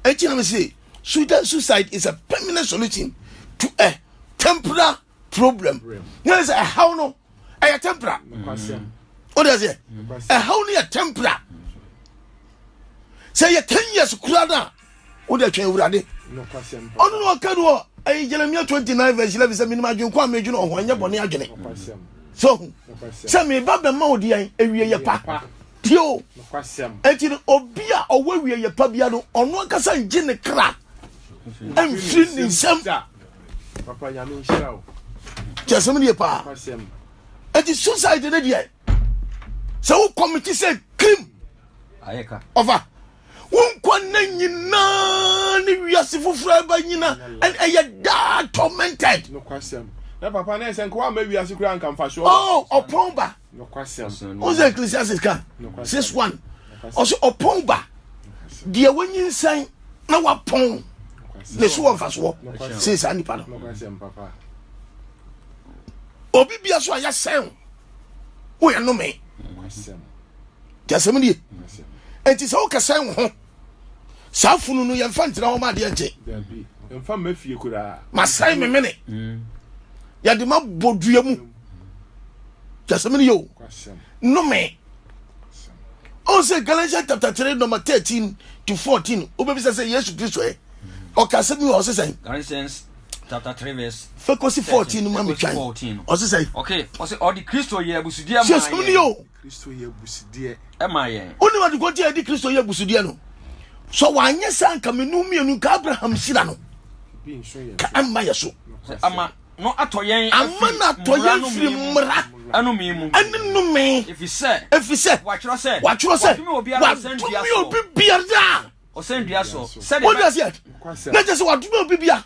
Enti na mese Sudan suicide is a permanent solution to a temporary problem. Nyɛ sɛ ɛhaw no ɛyɛ temporary. O de aseɛ ɛhaw no yɛ temporary. Sɛ yɛ ten years kura no a o de atwɛn awurade. Ɔno na ɔka no wɔ ɛyɛ Jeremiah twenty nine verse eleven sɛ menim adwene kɔ a medwene ɔho ɛnyɛ bɔne adwene. So sɛ meba bɛma wo deɛ ewie yɛ pa. Tio, enti no obi a ɔwɔ wie yɛ pa bia no, ɔno ankasa ngye ne kra mfiri ne nsam. Kyɛ sɛm ne yɛ paa. Enti suicide ne deɛ, sɛ wo kɔmiti sɛ krim, ɔfa, wo nkwa nna nyinaa ne wiase foforɔ ɛba nyina, ɛyɛ daa tormented. Nokwasɛm. Na papa na ɛsɛ nkoa ama wiase kura nkamfa so. Oh, ɔpɔn ba. Nokwasɛm. Ɔsɛ Ecclesiastes ka six one. Ɔsɛ ɔpɔn ba deɛ wanyinsɛn na wapɔn ne so wɔ nfasoɔ sen saa nipa no. Obi bia so a yɛsɛn wo yɛ nome. Kyɛ asɛm nie. Enti sɛ wokɛsɛn wo ho saa funu no yɛmfa ntena hɔ ma adeɛ nkye mfa mma fie koraa masɛe me mene mm. yɛde ma bɔ dua mu kyɛsɛm no yɛ o nnome ɔn sɛ galatians chapter 3 number 13 to 14 wobɛbisa sɛ yesu kristo ɛ ɔka asɛm bi wɔ ɔse sɛn galatians chapter 3 verse fɛkɔsi 14 no ma metwan ɔse sɛn ɔse ɔde kristo yɛ abusudeɛ ma yɛ Kristo yɛ abusudeɛ. Ɛma yɛn. Wone wɔde kɔnti a ɛde Kristo yɛ abusudeɛ no. Sɛ wanyɛ saa nka menu mmienu nka Abraham hyira no. Ka ɛmma yɛ so. Ama no atɔ yɛn ama no atɔ yɛn firi mmara ɛnome mu ɛne nnome. Efisɛ efisɛ wɔatwerɛ sɛ wɔatwerɛ sɛ wɔadome obi biara. ɔsɛn dua so sɛdeɛ wode aseɛ na kyɛ sɛ wadome obi bia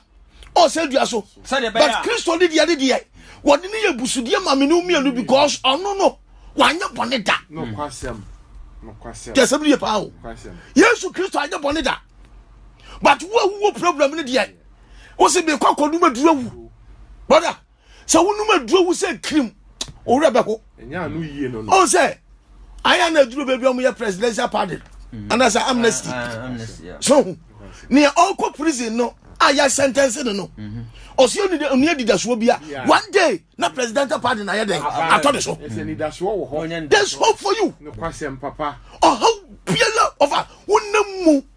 ɔsɛn dua so but kristo ne deɛ ne deɛ wɔde ne yɛ busudeɛ ma mene mmienu because ɔno no wanyɛ bɔne da yɛsɛm no yɛ paa o yesu kristo anyɛ bɔne da but wo awuwo problem ne deɛ wo se mekɔ akɔnom aduru awu brother sɛ wonom aduro wu sɛ kirim owurɛ bɛho ɔhu sɛ ayɛ na aduro baabi ɔmo yɛ presidential pardon mm. anaasɛ amnesty ah, ah, so hu nea ɔkɔ prison no a yɛ sentence no no mhm. ɔsi oni de oni adidasoɔ bia one day na presidential pardon ayɛ dɛ ah, atɔ ne so there is hope for you ɔhaw biara ɔfa wonam mu.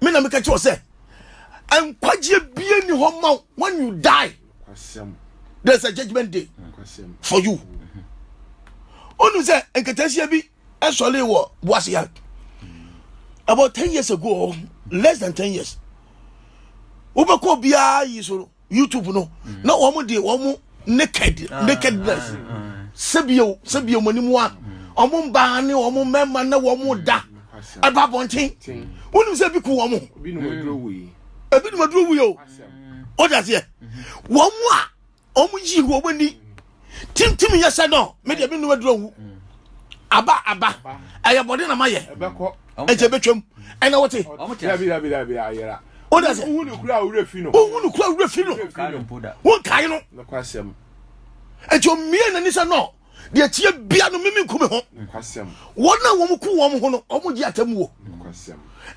me na meka kyerɛ sɛ nkwagyeɛ bie ni hɔ ma when you die there's a judgment day for you ɔnu sɛ nkatasia bi ɛsɔre wɔ boaseya about ten years ago less than ten years wobɛkɔ obiara yi so no youtube no mm. na wɔn de wɔn naked ah, nakedness ah, ah. sɛbio sɛbio wɔn anim wa wɔn mm. mbaa ne wɔn mmarima na wɔn mm. da ɛba abɔnten wonim sɛ ebi ku wɔn ebi num aduro wuyi o o da seɛ wɔn a wɔn yi wɔn ani. tintim yɛ sɛ no me deɛ menum aduro nwu mm. aba aba ɛyɛ bɔde na mayɛ ɛkyɛ bɛtwam ɛna wote wodasɛ wohu no kura wura fi no wonkae no ɛnti ɔmmie n'ani sɛ no deɛ tie bia no meme nku me ho wɔn a wɔm ku wɔm ho no ɔmo gye atam wo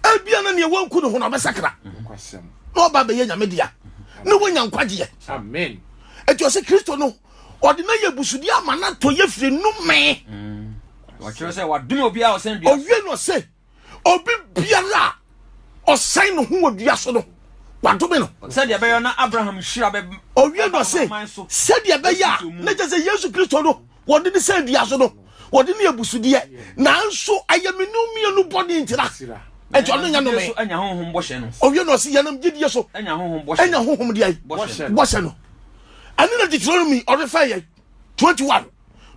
ebia na neɛ wɔnku ne ho no ɔbɛsakra na ɔba bɛyɛ nyame dea na wonya nkwagyeɛ ɛti ɔsɛ kristo no ɔde no yɛ busudi ama no atɔ yɛ firi nomee mm. ɔkyerɛ sɛ wadome obiara ɔsɛn dua ɔwie no sɛ obi biara a ɔsɛn no ho wɔ dua so no wadome no sɛdeɛ ɛbɛyɛ na abraham hyira bɛ ɔwie no sɛ sɛdeɛ ɛbɛyɛ a na kyɛ sɛ yesu kristo no wɔde ne sɛ dua so no wɔde ne abusudeɛ nanso ɛyɛ me ne mmienu bɔne ntira ɛnti ɔno nya nome ɔwie na ɔse yɛnam gyedie so ɛnya honhom deɛ bɔhyɛ no ɛne na deuteronomy ɔrefɛ yɛ 21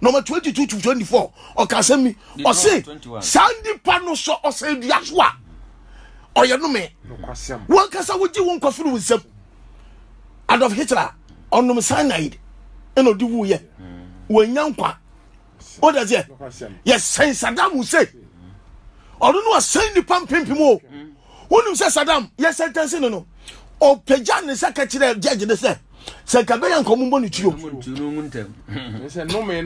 nɔma 22 to 24 ɔka asɛm ni ɔse saa nnipa no sɔ ɔsɛ dua so a ɔyɛ nome wankasa wogye wo nkwa firi wo nsam Adolf Hitler ɔnom cyanide ɛna ɔde wuiɛ wɔanya nkwa wode aseɛ yɛsɛn Saddam Hussein ɔno no ɔsɛn nnipa mpempem o wonim sɛ Saddam yɛsɛntɛnse no no ɔpagya ne sɛ ka kyerɛ judge ne sɛ sɛ nka bɛyɛ nka ɔmombɔ ne tuo ɔmpɛ sɛ nome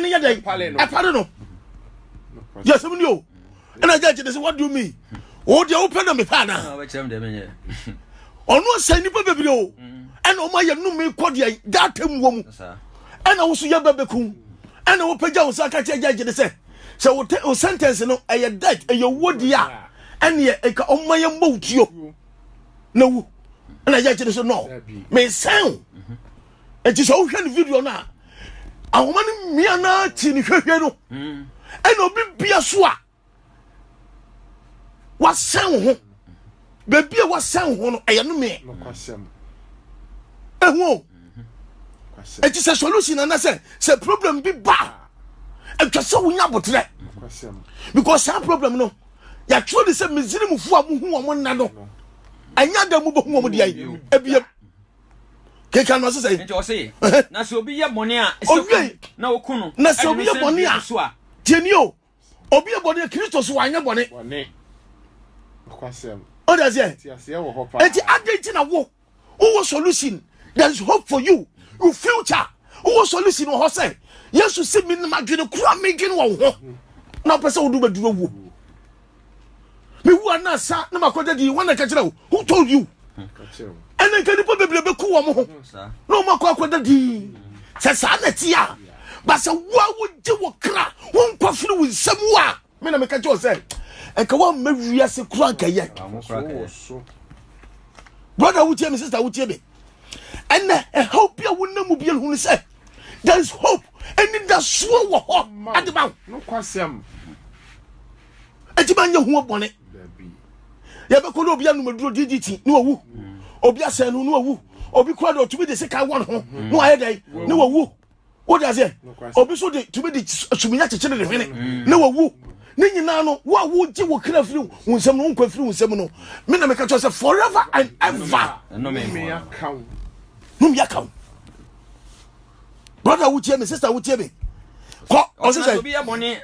no yɛ dɛn ɛpare no yɛsɛm ni o ɛna gya gyina sɛ what do you mean o deɛ wopɛ na mepɛ ana ɔno asɛe nnipa bebree o ɛna ɔma yɛ nome kɔ deɛ data mu wɔ mu ɛna wo so yɛ bɛbɛku ɛna wopɛgya wo sa ka kyerɛ gya gyene sɛ sɛ wo sentence no ɛyɛ dead ɛyɛ wuo deɛ a ɛneɛ ɛka ɔma yɛ mmɔ wo tuo na wu ɛna gya gyene so no mesɛn nti sɛ wohwɛ no video no a ahoma no mmea no ati ne hwɛhwɛ no mm. ɛna obi bia so a wasɛn wo ho baabi a wasɛn wo ho no ɛyɛ no meɛ ɛho o ɛti sɛ solution ana sɛ sɛ problem bi ba a ɛtwa sɛ wonya aboterɛ because saa problem no yɛatwerɛ de sɛ misrimfoɔ a mohu wɔn nna no ɛnyɛ da mu bɛhu wɔn deɛ ɛbiam kenkan no ɔse sɛ nti ɔse na sɛ obi yɛ bɔne a ɔwiei na ɔku no na sɛ obi yɛ bɔne a so a tieni o obi yɛ bɔne a kristo so wanyɛ bɔne ɔde aseɛ nti adɛn nti na wo wowɔ solution there is hope for you your future wowɔ solution wɔ hɔ sɛ yesu si me no madwene kora medwene wɔ wo ho na wopɛ sɛ wodo bɛduru awuo Me wu ana sa na ma kɔda di wɔn ɛka wo who told you ɛna nka nipa bebree bɛ ku wɔn ho na wɔn akɔ akɔda di sɛ saa na ti a basɛ wo a wogye wɔ kra wo nkwa firi wo nsɛm wo a me na meka kyɛ sɛ ɛka wo amma wiase kora nkɛyɛ brɔda wotie me sista wotie me ɛnna ɛhaw bi a wonam mu biara hunu sɛ there is hope anidasoɔ wɔ hɔ ade ba nokwasɛm ɛti ma nyɛ ho bɔne yɛbɛkɔ ne obi anomaduro didi ti ne wawu obi asɛn no ne wawu obi kura de ɔtumi de sika wɔ ne ho ne wayɛ dɛn ne wawu wode aseɛ obi so de tumi de suminya kyekyere ne hwene mm. na wawu ne nyinaa no wo a wogye wo kra firi wo nsɛm no wonkwa firi wo nsɛm no me na meka kyerɛ sɛ forever and ever nomyɛ ka wo brother wotie me sister wotie me kɔ ɔsesɛ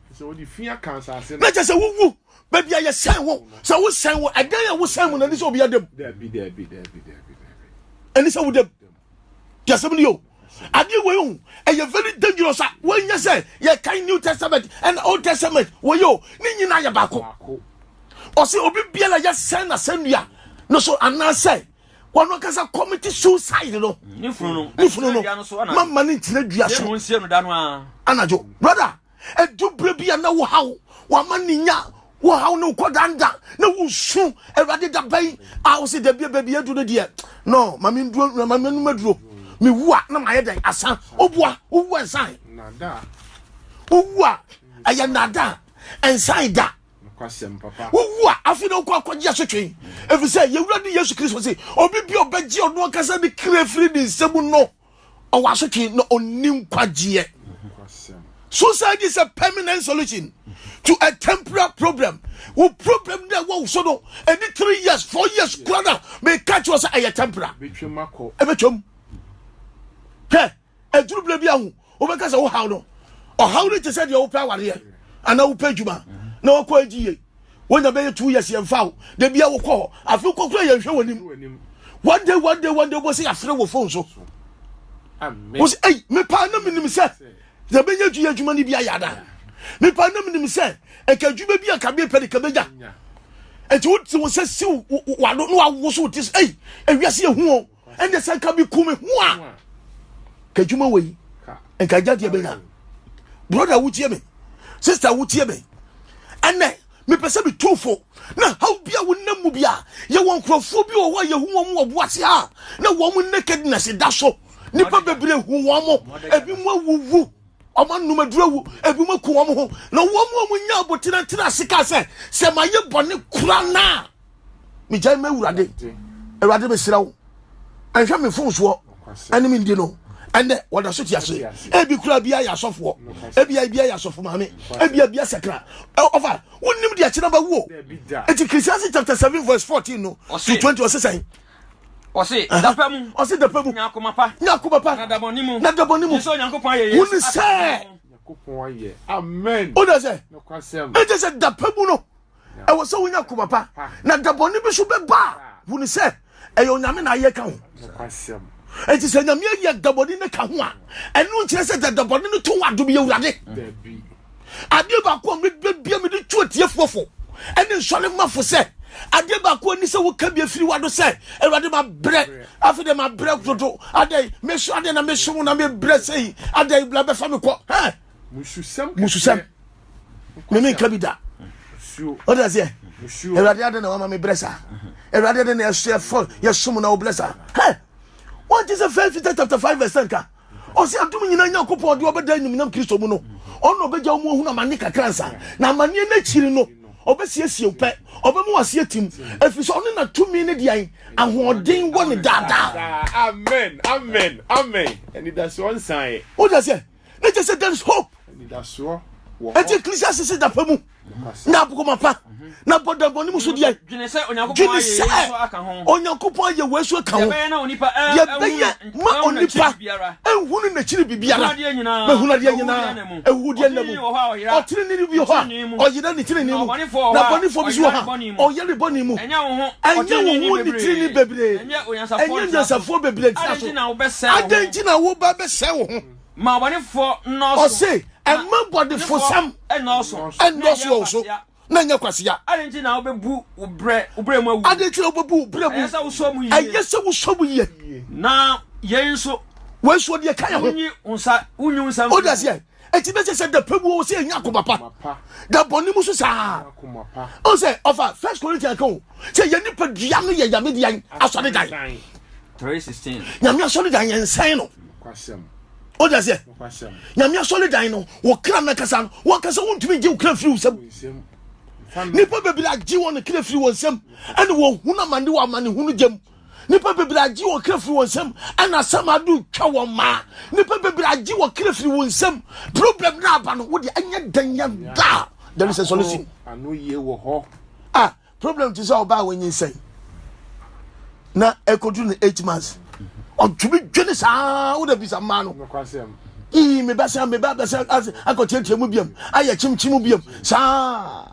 na kyɛ sɛ wowu baabi a yɛsɛn wo sɛ wosɛn wo ɛdan a wosɛn mu na ɛne sɛ obi adam ɛne sɛ wodam deɛ asɛm no yɛ adeɛ wei o ɛyɛ very dangerous a wɔnyɛ sɛ yɛkan new testament and old testament wɔyɛ o ne nyinaa yɛ baako ɔsɛ obi biara yɛsɛn na sɛnnua no so anaasɛ wɔn ankasa kɔmiti suicide no ne funu no mama ne nkyerɛ dua so anadwo brother Ɛdu berɛ bi a na wohaw wama ne nya wohaw ne wokɔdanda na wosu awurade da bɛn a wo sɛ da bia baabi adu no deɛ no ma menom aduro mewu a na mayɛ dɛn asa woboa wowu a nsan wowu a ɛyɛ nada nsan da wowu a afei na wokɔ akɔgye asotwe ɛfiri sɛ yɛwura ne yesu kristo se obi bi ɔbɛgye ɔno ankasa ne kra firi ne nsɛm no ɔwɔ asotwe na ɔnni nkwagyeɛ suicide is a permanent solution to a temporary problem wo problem dɛ wɔ so no ɛdi three years four years kura na meka kyerɛ sɛ ɛyɛ temporary ɛbɛtwam hwɛ ɛduru berɛ bi aho wobɛka sɛ wohaw no ɔhaw no te sɛ deɛ wopɛ awareɛ anaa wopɛ adwuma na wakɔ agyi yie wonya bɛyɛ two years yɛn fa o de bia wokɔ hɔ afi wokɔ kura yɛn hwɛ wɔ nim one day one day one day wobɔ sɛ yɛafrɛ wɔ phone so wɔ sɛ ei mepaa na menim sɛ yɛbɛnya adwuma adwuma no bi ayɛ ada mepaa na menim sɛ ɛka adwuma bi a ka mepɛ de ka bɛnya ɛnti wote wo sɛ siw wado na wawoso wo ti so ei ewiase yɛ hu o ɛnde sɛ nka meku me ho a ka adwuma wei nka gyadeɛ bɛnya broda wotie me sister wotie me ɛnɛ mepɛ sɛ metu fo na haw bi a wonam mu bi a yɛwɔ nkurɔfoɔ bi wɔ hɔ a yɛhu wɔn wɔ boase a na wɔn nakedness da so nnipa bebree hu wɔn mo ebi mu awuwu wɔn anum aduru awu ebi mu aku wɔn ho na wɔn a wɔnya abotenatena ase ka sɛ sɛ ma yɛ bɔne kora naa. megyae ma awurade awurade mesrɛ wo ɛnhwɛ me mfomsoɔ ɛne me ndi no ɛnɛ wɔda so te ase ebi kura bi ayɛ asɔfoɔ ebi ayɛ bi ayɛ asɔfo maame ebi ayɛ bi asakra ɔfa wonim deɛ kyerɛ ba wuo eti Christianity chapter seven verse fourteen no to twenty ɔsi sɛn. ɔsi dapa mu ɔsi dapa mu nyakoma pa nyakoma pa na dabɔ ni mu na dabɔ ni mu sɛ onyankopɔn ayɛ yesu wuli sɛ o de sɛ e de sɛ dapa mu no ɛwɔ sɛ wonya koma pa na da bɔne bi so bɛba a hunu sɛ ɛyɛ onyame na ayɛ ka ho ɛnti sɛ nyame ayi adabɔne no ka ho a ɛno nkyerɛ sɛ sɛ dabɔne no to wɔ adom yɛ awurade adeɛ baako a mebɛbia mede tu atiefoɔ fo ɛne nsɔre mafo sɛ adeɛ baako ani sɛ woka bi afiri wado sɛ awurade mabrɛ afei dɛ mabrɛ dodo adɛn meso adɛn na meso wo na mebrɛ sɛi adɛn bla bɛfa me kɔ mususɛm me menka bi da ɔde aseɛ awurade adɛ na wama me berɛ saa awurade adɛ na yɛfɔ yɛsom na wobrɛ saa hɛ wɔnte sɛ first peter chapter 5 verse 10 ka ɔsɛ adom nyina nyankopɔn ɔde ɔbɛda animuonyam kristo mu no ɔno ɔbɛgya wo mu ahunu amanne kakra nsa na amanneɛ no akyiri no ɔbɛsiesie wo pɛ ɔbɛmu aseɛ tim ɛfiri sɛ ɔne natumi ne deɛn ahoɔden wɔ ne daadaa amen amen amen ɛnidasoɔ nsaeɛ wode aseɛ na kyɛ sɛ there is hope ɛti ecclesiastes sɛ dafa mu na abokoma pa na bɔda bɔne mu so deɛ dwene sɛ onyankopɔn ayɛ wei so ka ho deɛ bɛyɛ ma onipa ɛnhunu n'akyiri biribiara bɛhunu adeɛ nyinaa ɛwudeɛ nna mu ɔtenene bi hɔ a ɔyera ne tenene mu na bɔnefoɔ bi so wɔ ha Ɔyare bɔne mu. Ɛnyɛ wo ho ɔtreneeni bebree. Ɛnyɛ onyansafoɔ bebree ntena so. Adɛn nti na woba bɛsɛe wo ho? Ma bɔnefoɔ nnɔɔso. Ɔse, ɛma bɔnefosɛm nnɔɔso wɔ wo so na nyɛ kwasea. Adɛn nti na wobɛbu wo brɛ mu awu? Adɛn nti na wobɛbu wo brɛ mu? Ɛyɛ sɛ wosɔ mu yie. Ɛyɛ sɛ wosɔ mu yie. Na yei nso. Wei nso deɛ ka yɛ ho. Wonyi wo nsa, wonyi wo nsa mfiri mu. Woda seɛ, ɛti bɛsɛ sɛ dapɛ mu ɔwɔ sɛ ɛnya akoma pa da bɔne mu so saa ɔn sɛ ɔfa first corinthian ka o sɛ yɛ nipa dua no yɛ nyame dean asɔre dan nyame asɔre dan yɛ nsɛn no o de aseɛ nyame asɔre dan no wɔ kra no kasa no wɔn kasa wɔntumi gye wo kra firi wo nsɛm nipa bebree agye wɔn kra firi wɔn nsɛm ɛne wɔn hunu amane wɔ amane hunu gyam nipa bebree agye wɔn kra firi wɔn nsam ɛna asɛm ado twa wɔn maa nipa bebree agye wɔn kra firi wɔn nsam problem na aba no wo deɛ ɛnyɛ dan yɛ daa there is a solution. ano yie wɔ hɔ. ah problem ti sɛ ɔbaa wɔn nyi nsɛn na ɛkɔdu no eight months ɔtumi dwene saa wo da bisa mmaa no ii mebɛsɛ mebɛ bɛsɛ akɔtiatia mu biam ayɛ kyimkyim biam saa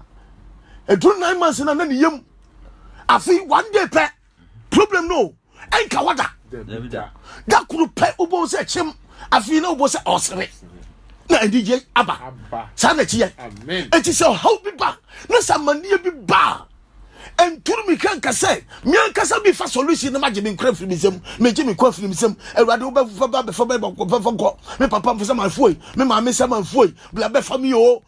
ɛduru nine months na na ne yam afei one day pɛ problem no ɛnka hɔ da da koro pɛ wobɛhu sɛ kyem afei na wobɔ sɛ ɔsere na anigye aba saa na ɛkyiyɛ ɛnti sɛ ɔhaw bi ba na sɛ amanneɛ bi ba a nturu mi ka nka sɛ meankasa bi fa solution no magye me nkora firi me nsam megye me kɔ afiri me nsam awurade wobɛfa ba bɛfa bɛfa nkɔ me papa mfo sɛ manfoe me maame sɛ manfoe bla bɛfa me o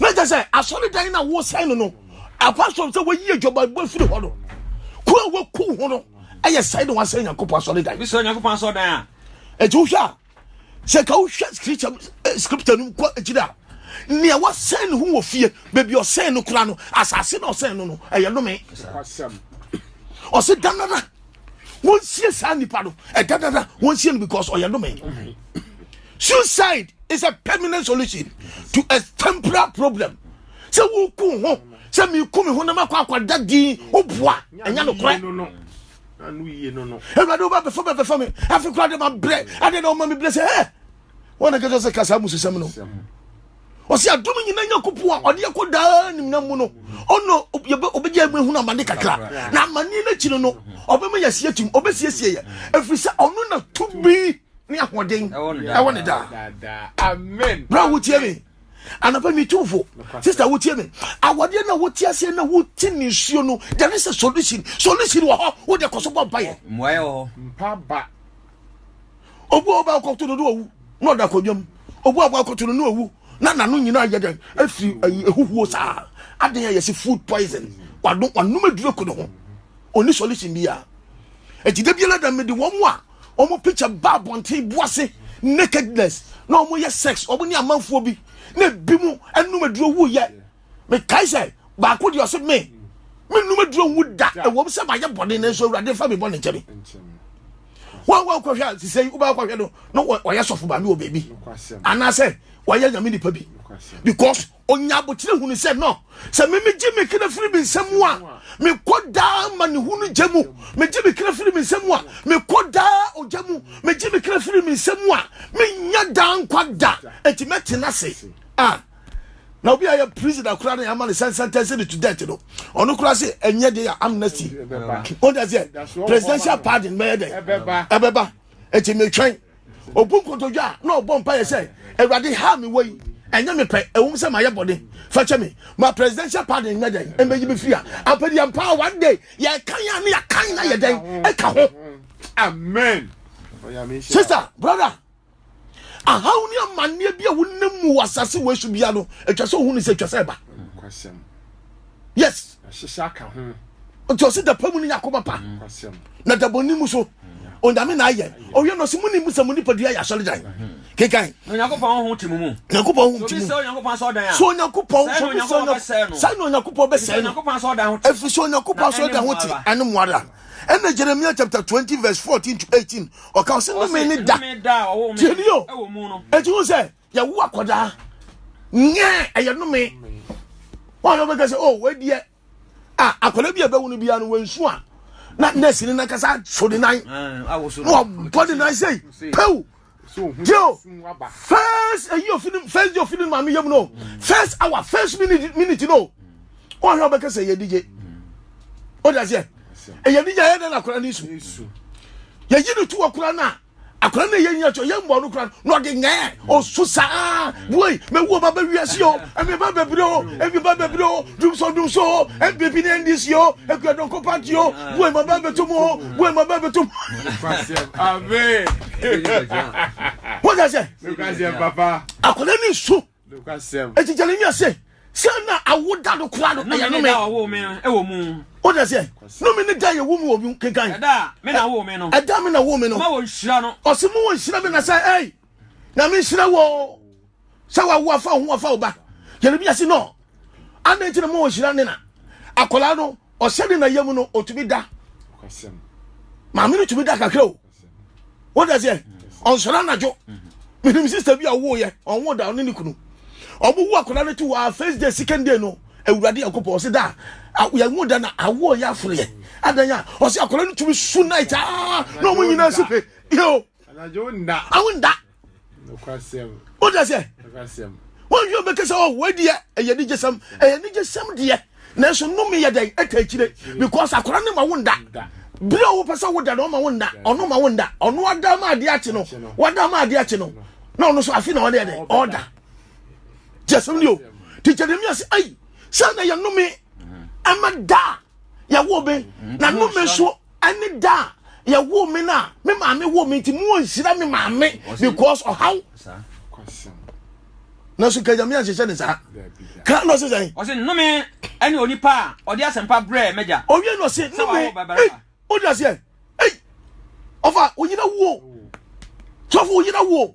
na kyɛ sɛ asɔredan no a wosɛe no no ɛkɔ so sɛ wɔyi adwabɔbɔ firi hɔ no kuro a wɔku ho no ɛyɛ sɛe na wasɛe nyankopɔn asɔredan bi sɛ nyankopɔn asɔredan a ɛti wohwɛ a sɛ ka wohwɛ scripture eh, scripture no kɔ akyiri a nea wɔsɛn ne ho wɔ fie baabi ɔsɛn no kora no asase na ɔsɛn no no ɛyɛ nome ɔse da nana wɔnsie saa nipa no ɛda dada wɔnsie no because ɔyɛ nome suicide is a permanent solution to a temporary problem sɛ woku ho sɛ meku me ho na makɔ akɔda din woboa ɛnyɛ nokorɛ awurade wobɛbɛfa bɛbɛfa me afe kora de mabrɛ ade na woma mebrɛ sɛ ɛ wɔn na kɛkyɛ sɛ ka saa amusesɛm no ɔsɛ adom nyina nyankopɔn a ɔde ɛkɔ daa nimna mu no ɔno ɔbɛgya mu ahunu amane kakra na amane no akyiri no ɔbɛma yɛasie atim ɔbɛsiesie yɛ ɛfiri sɛ ɔno na tumi ne ahoɔden ɛwɔ ne daa berɛ a wotie me anapa mi tu fo sista wotie me awadeɛ na wote aseɛ na wote ne nsuo no there is a solution solution wɔ hɔ wode kɔ so bɔ mpayɛ mmoayɛ wɔ hɔ obu a ɔba akɔto no do owu na ɔda akonnwa mu obu a ɔba akɔto no no owu na n'ano nyinaa yɛ dɛn efiri ɛyi ehuhuo saa adan a yɛsi food poison wano wanum aduro ko ne ho oni solution bi a eti de bi la dɛm de wɔn a wɔn picture ba abɔnten bu ase nakedness na wɔn yɛ sex wɔn ne amanfoɔ bi na ebi mu anum aduro wu yɛ. mekae sɛ baako deɛ ɔse me menum aduro nwu da ɛwɔm sɛ mayɛ bɔne no nso awurade fa me bɔne nkyɛ me wọn wọn kɔhwɛ a sisɛ yi wobɛkɔ kɔhwɛ no na ɔyɛ sɔfo maame wɔ baabi anaasɛ wɔyɛ nyame nipa bi because onya abotire hunu sɛ no sɛ meme gye me kena firi me nsɛm mu a mekɔ daa ma ne hunu gya mu megye me kena firi me nsɛm mu a mekɔ daa ogya mu megye me kena firi me nsɛm mu a menya daa nkwa da enti mɛtena ase a ah. na obi a yɛ prison akora na yɛama no sɛn sentence no to death no ɔno kora se ɛnyɛ de yɛ amnesty ɔda sɛ presidential pardon mɛyɛ dɛn ɛbɛba ɛti metwɛn obu nkotodwa a na ɔbɔ mpa yɛ sɛ awurade ha me wɔ yi ɛnyɛ me pɛ ɛwom sɛ mayɛ bɔne fakyɛ me ma presidential pardon nyɛ dɛn ɛmɛyi me firi a ampɛdi ampa one day yɛkan a ne yɛkan na yɛ dɛn ɛka ho amen sister brother ahaw ne amanneɛ bi a wonam mu wɔ asase wɔ so bia no atwa sɛ ohun sɛ atwa sɛ ɛba yes ahyehyɛ aka ho nti ɔsi dapa mu ne yakoma pa na dabɔni mu so onyame na ayɛ ɔyɛ no ɔsi mu ni mu sɛ mu nipadua yɛ asɔredan kekan onyankopɔn ho ti mu mu onyankopɔn ho ti mu so onyankopɔn sɛ ɔdan a so onyankopɔn so onyankopɔn bɛsɛɛ no sɛ na onyankopɔn bɛsɛɛ no efisɛ onyankopɔn sɛ ɔdan ho ti ɛne mu ara ɛna jeremia chapter twenty verse fourteen to eighteen ɔka ɔsɛ nnome ne da tiɛ ni o eti ho sɛ yɛwo akɔdaa nyɛ ɛyɛ nnome wɔn a na wɔbɛka sɛ o oh, wɔadiɛ a akɔda bi a ɛbɛwo no biara no wɔnsu a na nɛɛsi ne nankasa so ne nan na wɔbɔ ne nan sɛ pew yo first eyi ofini first di ofini maame yam no first hour first minute minute no ɔhwɛ ɔbɛka sɛ yɛ digye ɔdi aseɛ ɛyɛ digye ayɛ dɛ na akora ne su yɛyi ne tu akora no a akora no yɛ nyina kyɛ yɛ mbɔ no kora no ɔde nyɛɛ ɔso saa woi mɛwu ɔba bɛ wiase o ɛmi ba bɛbire o ɛmi ba bɛbire o dumso dumso o ɛbibi ne ndc o ekuadɔnkɔ party o woi ma ba bɛtum o wei ma bɛɛ bɛtom woda sɛ akɔda ne nsu ɛti gyane nya sɛ sɛ na awoda no kora no ɛyɛ nome woda sɛ nome ne da yɛwo mu wɔ kenkan ɛda me na wo me no ɔse mo wɔ nhyira me na sɛ ei nyame nhyira wo sɛ wawo afa ho afa wo ba yeremia se no adɛn nti na ma ɔhyira ne na akwadaa no ɔhyɛ ne na yam no ɔtumi da maame no tumi da kakra o wode seɛ ɔnsɔre anadwo menim sister bi a ɔwoyɛ ɔnwo da ɔne ne kunu ɔmo wo akwadaa no to wɔ first day second day no awurade nyankopɔn ɔse da yɛnwo da na awoɔ yɛ aforeɛ adɛn a ɔse akwadaa no tumi su night aa na ɔmo nyinaa si pe yɛo anadwo nda awo nda nokwasɛm o da sɛ nokwasɛm wɔn yɛ ɔbɛka sɛ ɔwɔ adiɛ ɛyɛ ne gyesɛm ɛyɛ ne gyesɛm deɛ nanso nnome yɛ dɛn ɛta akyire because akora ne ma wo nda bere a wopɛ sɛ woda no ɔma wo nda ɔno ma wo nda ɔno ada ma adeɛ akye no wada ma adeɛ akye no na ɔno so afe na ɔne ɛdɛ ɔda gyesɛm ni o ti gyɛ ne mi ase ayi sɛ na yɛ nnome ɛma da yɛwo be na nnome so Ɛne da a yɛwoo me no a me maame woo me nti mo nhyira me maame because ɔhaw. Na so kanyame ahyehyɛ ne saa. Ka no se sɛn? Ɔse nnome ɛne onipa a ɔde asɛmpa brɛ mɛgya. Owie no se nnome. Ei, odi aseɛ. Ei, ɔfa oyera wuo. Sɔfo oyera wuo.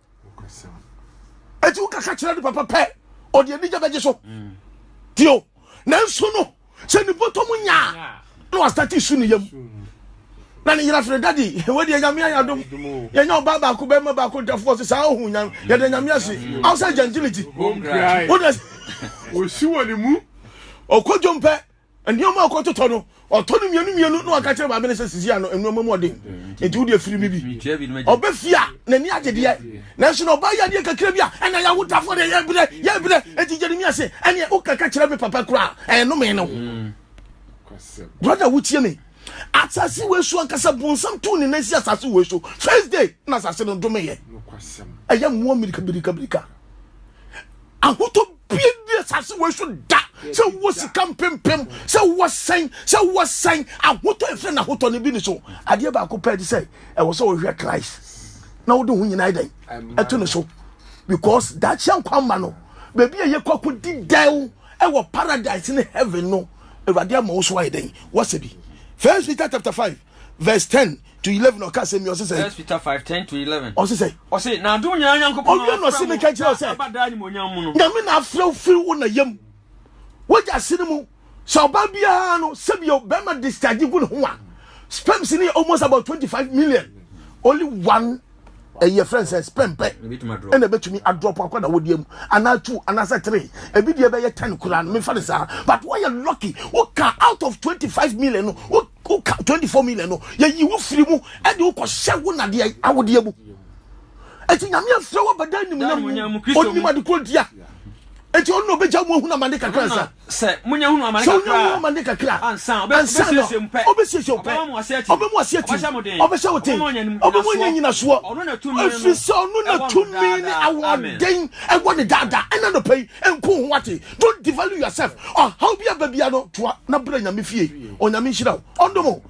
ɛti wokaka kyerɛ no papa pɛ ɔde anigya bɛgye so mm. tio nanso no sɛ ne bɔtɔ mu nyaa na wastate su ne yam na ne yera frɛ dadi wɔdeɛ nyame ayɛ adom yɛnya ɔba baako bɛma baako ntafoɔ se saa ɔhu nyame yɛde nyame ase aw sɛ gentility wode ɔsi wɔ ne mu ɔkɔdwom pɛ nneɛma a ɔkɔtotɔ no ɔtɔ no mmienu mmienu na waka kyerɛ maame no sɛ sisi ano nneɛma mu ɔden nti wode afiri mi bi ɔbɛfie a n'ani agye deɛ nanso na ɔbaa yɛ adeɛ kakra bi a ɛna yɛ awotafoɔ deɛ yɛbrɛ yɛbrɛ nti jeremia se ɛneɛ wokaka kyerɛ me papa koraa ɛnome no mm. brother wotie me asase wei so ankasa bonsam too ne nan si asase wei so first day na asase no domeyɛ ɛyɛ mmoa mirikabirikabirika ahotɔ bia ni asase wɔ so da sɛ wowɔ sika mpempem sɛ wowɔ sɛn sɛ wowɔ sɛn ahotɔ ɛfrɛ no ahotɔ no bi ne so adeɛ baako pɛ de sɛ ɛwɔ sɛ wɔhwɛ christ na wode ho nyinaa dɛn ɛto no so because daakye nkwa mma no baabi a yɛkɔ akɔdi dɛw ɛwɔ paradise ne heaven no awurade ama wo so ayɛ dɛn wɔsɛ bi first peter chapter 5 verse 10 to eleven ɔka asɛm yi ɔsi sɛ. first peter five ten to eleven. ɔsi sɛ. ɔsi na adum nyinaa nyankopɔn. ɔwia na ɔsi mi ka kyerɛ ɔsɛ. abada ni mo nyamu no. nyame na afrɛw firi wo na yam wagya ase no mu sɛ ɔbaa biara no sɛbio bɛrima discharge gu ne ho a sperms ni almost about twenty five million only one. ɛyɛ eh, friend sɛ spɛn pɛ ɛna ɛbɛtumi adrɔp akɔ na wɔdeɛ mu anaa two anaasɛ three ebi deɛ bɛyɛ ten koraa no mefa ne saa but wɔyɛ lucky woka out of twenty five million no woka twenty four million no yɛyi wo firi mu ɛde wokɔhyɛ wo nadeɛ awodeɛ mu ɛti nyame afrɛ wɔ bɛda animonyam mu ɔnim adekorɔ dia ɛti ɔno na ɔbɛgya mu ahunu amane kakra nsa Sɛ wonya hunu amane kakra a, ansa na ɔbɛsiesie wo pɛ, ɔbɛma mo ase atim, ɔbɛhyɛ mo den, ɔbɛma ɔnya nnyinasoɔ, ɛfiri sɛ ɔno na tumi ne ahoɔden ɛwɔ ne daadaa ɛna nɔpɛ yi nko ho ate don't devalue yourself ɔhaw bi aba bia no toa na brɛ nyame fie onyame nhyira wo ɔndom